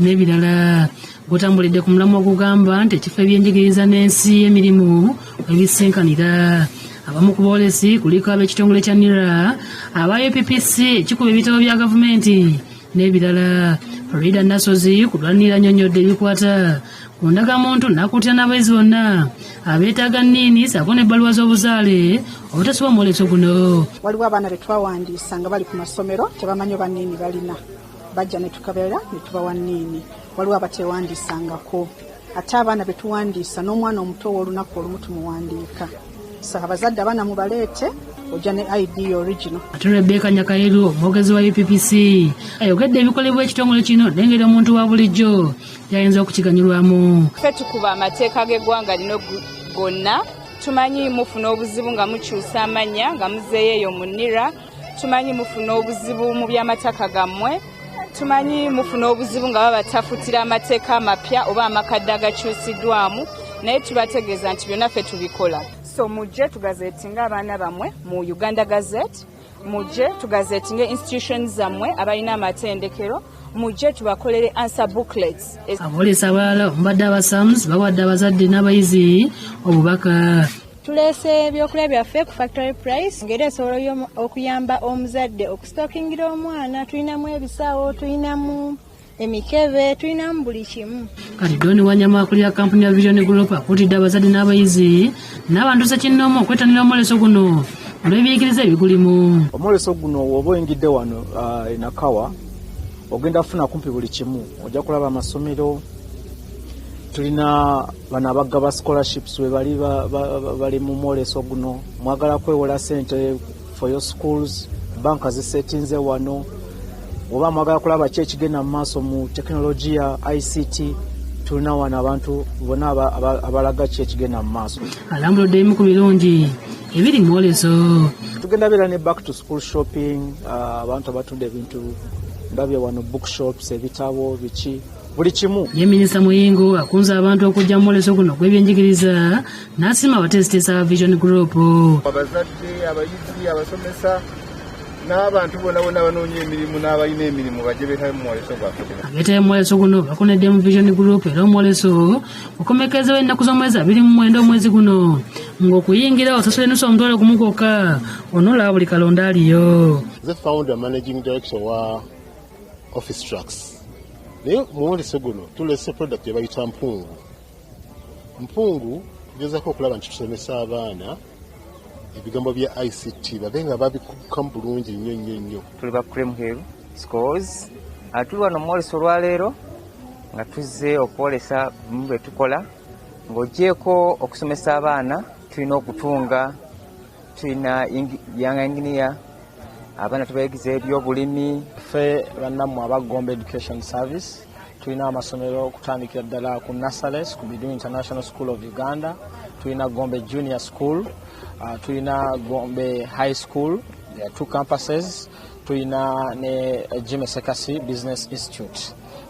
n'ebirala gwotambulidde ku mulamu ogugamba nti ekifo ebyenjigiriza n'ensi emirimu ebisinkanira abamu ku boolesi kuliko ab'ekitongole kya nira aba uppc ekikuba ebitabo bya gavumenti n'ebirala rida nasozi ku lwanira nyonyodde ebikwata ku ndagamuntu nakuutira n'abayizi bonna abeetaaga nniini saako n'ebbaluwa z'obuzaale obutasuba omwoleso guno waliwo abaana betwawandiisa nga bali ku masomero tebamanyi oba nniini balina bajja ne tukebera ne tubawa niini waliwo abateewandiisangako ate abaana be tuwandiisa n'omwana omuto ow'olunaku olumu tumuwandiika so abazadde abaana mubaleete ojja ne id original ate rebeka nyakayiru omwogezi wa uppc ayogedde ebikolebwa ekitongole kino nengeri omuntu wa bulijjo yayinza okukiganyulwamu fe tukuba amateeka g'eggwanga lino gonna tumanyi mufuna obuzibu nga mukyusa amannya nga muzeeyo eyo mu nira tumanyi mufuna obuzibu mu by'amataka gammwe tumanyi mufuna obuzibu nga babatafutira amateeka amapya oba amakadde agakyusiddwamu naye tubategeeza nti byonna ffe tubikola so mujje tugazetinga abaana bammwe mu uganda gazette mujje tugazetinga institution zammwe abalina amatendekero mujje tubakolere ansa booklets aboolesa abalala omubadde abasams bawadde abazadde n'abayizi obubaka tuleese ebyokulya byaffe ku factory price ngeri esobola okuyamba omuzadde okusitokingira omwana tulinamu ebisaawo tulinamu emikebe tulinamu buli kimu kalidoni wanyama akulira kampuni ya vision group akuutidde abazadde n'abayizi n'abantu sekinnoomu okwetanira omwoleso guno olw'ebiyigiriza ebigulimu omwoleso guno woba oyingidde wano uh, enakawa ogenda kufuna kumpi buli kimu ojja kulaba amasomero tulina bano abagaba scholarships webali bali mu mwoleso guno mwagala kwewola sente for your schools banka zisetinze wano oba mwagala kulaba ki ekigenda mu maaso mu tekinologiya ict tulina wano abantu bona abalaga ki ekigenda mu maaso alambuludde emu ku birungi ebiri mu mwoleso tugenda beera ne back to school shopping ah, abantu abatunda ebintu ndabye wano bookshops ebitabo biki buli kimu ye minisita muyingo akunze abantu okujja mu mwoleso guno gw'ebyenjigiriza n'asiima abateesiteesa aba vision group abazadde abayizi abasomesa n'abantu bona bona banoonya emirimu n'abalina emirimu bajje beetabe mu mwoleso gwaffe abeetabe mu mwoleso guno bakonedde mu vision group era omwoleso okomekerezawo ennaku z'omwezi abiri mu mwenda omwezi guno ng'okuyingira osasula enusu omutwalo gumu gwokka onolaba buli kalonda aliyo office trucks naye muwolese guno tulese product yebayita mpungu mpungu tugezako okulaba nti tusomesa abaana ebigambo bya ict babe nga babikukamu bulungi nnyo nnyo nnyo tuli ba cream hill scores atuli wano muwolese olwaleero nga tuzze okwolesa bimu bye tukola ng'ogyeko okusomesa abaana tulina okutunga tulina young engineer abaana tubayigiza ebyobulimi ffe bannammwe aba gombe education service tulina amasomero okutandikira ddala ku nasales ku bidu international school of uganda tulina gombe junior school uh, tulina gombe high school there are two campuses tulina ne jimesekasi business institute